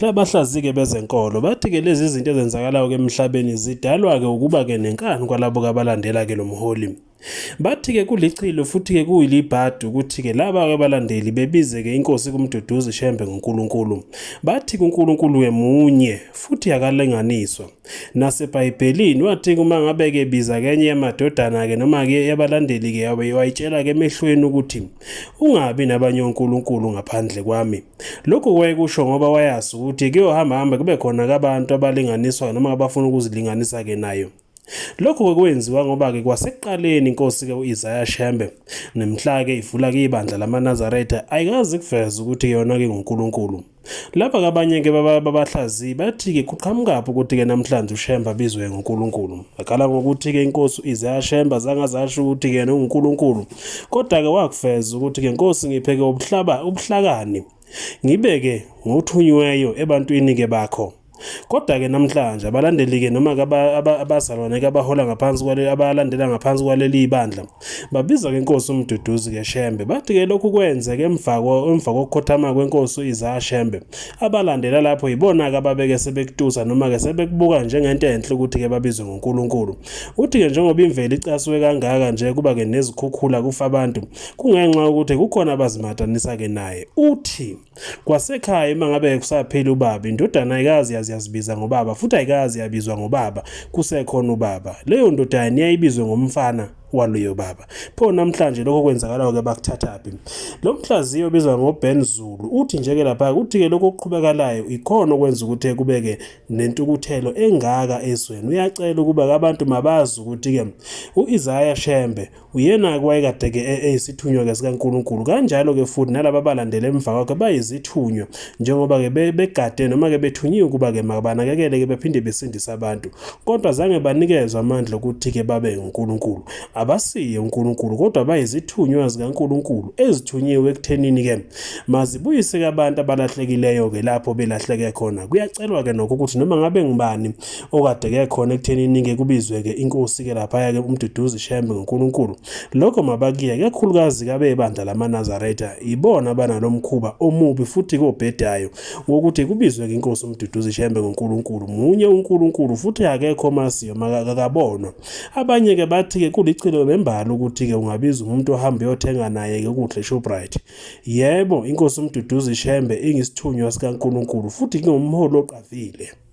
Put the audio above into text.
Labahlaziyi-ke bezenkolo bathi-ke lezi zinto ezenzakalayo-ke emhlabeni zidalwa-ke ukuba-ke nenkani kwalabo kabalandela-ke lo mholi. Bathi-ke kulichilo futhi-ke kuyilibhadi ukuthi-ke laba-ke abalandeli bebize-ke inkosi kuMduduzi Shembe ngoNkulunkulu. Bathi kuNkulunkulu-ke munye futhi akalinganiswa. NaseBhayibhelini wathi uma ngabe-ke biza-ke enye yamadodana-ke noma-ke yabalandeli-ke wayitshela-ke emehlweni ukuthi Ungabi nabanye onkulunkulu ngaphandle kwami. Lokhu wayekusho ngoba wayazi ukuthi kuyohambahamba kube khona kabantu abalinganiswa noma abafuna ukuzilinganisa-ke nayo. Lokhu kwakwenziwa ngoba-ke kwasekuqaleni inkosi-ke u-Isaya Shembe nemhla-ke ivula-ke ibandla lamaNazaretha ayikazi kuveza ukuthi yona-ke nguNkulunkulu. Laba kabanye ke babahlaziyi bathi-ke kuqhamukaphi ukuthi-ke namhlanje uShemba abizwe nguNkulunkulu. Akhala ngokuthi-ke inkosi ize yaShemba zangazasho ukuthi-ke unguNkulunkulu. Kodwa-ke wakufeza ukuthi-ke nkosi ngipheke ubuhlaba ubuhlakani ngibeke ngothunyweyo ebantwini-ke bakho. Kodwa-ke namhlanje abalandeli-ke noma abazalwane-ke abahola ngaphansi kwale abalandela ngaphansi kwaleli bandla babiza-ke inkosi uMduduzi-ke Shembe bathi-ke lokhu kwenzeke emva emva kokukhothama kwenkosi u-Isaya Shembe abalandela lapho yibona-ke ababeke sebekutusa noma-ke sebekubuka njengento enhle ukuthi-ke babizwe ngoNkulunkulu uthi-ke njengoba imvelo icasuke kangaka nje kuba-ke nezikhukhula kufa abantu kungenxa yokuthi kukhona abazimatanisa-ke naye uthi Kwasekhaya uma ngabe kusaphila ubaba, indodana ayikazi yazi yazibiza ngobaba futhi ayikazi yabizwa ngobaba kusekhona ubaba. Leyo ndodana niyayibizwe ngomfana waloyo baba. Pho namhlanje lokho kwenzakalayo ke bakuthathaphi. Lo mhlaziyo obizwa ngoBen Zulu uthi nje ke lapha ukuthi ke lokho okuqhubekalayo ikhona okwenza ukuthi kubeke nentukuthelo engaka ezweni. Uyacela ukuba abantu mabazi ukuthi ke uIsaiah Shembe Uyena-ke wayekade-ke e-, eyisithunywa-ke sikaNkulunkulu. Kanjalo-ke futhi nalaba abalandela emva kwakhe bayizithunywa njengoba-ke begade noma-ke bethunyiwe ukuba-ke mabanakekele-ke bephinde besindise abantu. Kodwa zange banikezwe amandla okuthi-ke babe uNkulunkulu. Abasiye uNkulunkulu kodwa bayizithunywa zikaNkulunkulu ezithunyiwe ekuthenini-ke mazibuyise-ke abantu abalahlekileyo-ke lapho belahleke khona. Kuyacelwa-ke nokho ukuthi noma ngabe ngubani okade ke khona ekuthenini ke kubizwe-ke inkosi-ke laphaya-ke umduduzi shembe ngonkulunkulu lokho mabakiye kakhulukazi kabebandla lamanazaretha ibona abanalo mkhuba omubi futhi kobhedayo wokuthi kubizwe-ke inkosi umduduzi shembe ngonkulunkulu munye unkulunkulu futhi akekho omaziyo makakabonwa abanye-ke bathi-ke kulichilo bembala ukuthi-ke ungabiza umuntu ohambe uyothenga naye-ke ukudla eshoprite yebo inkosi umduduzi shembe ingisithunywa sikankulunkulu futhi ngingumholi oqavile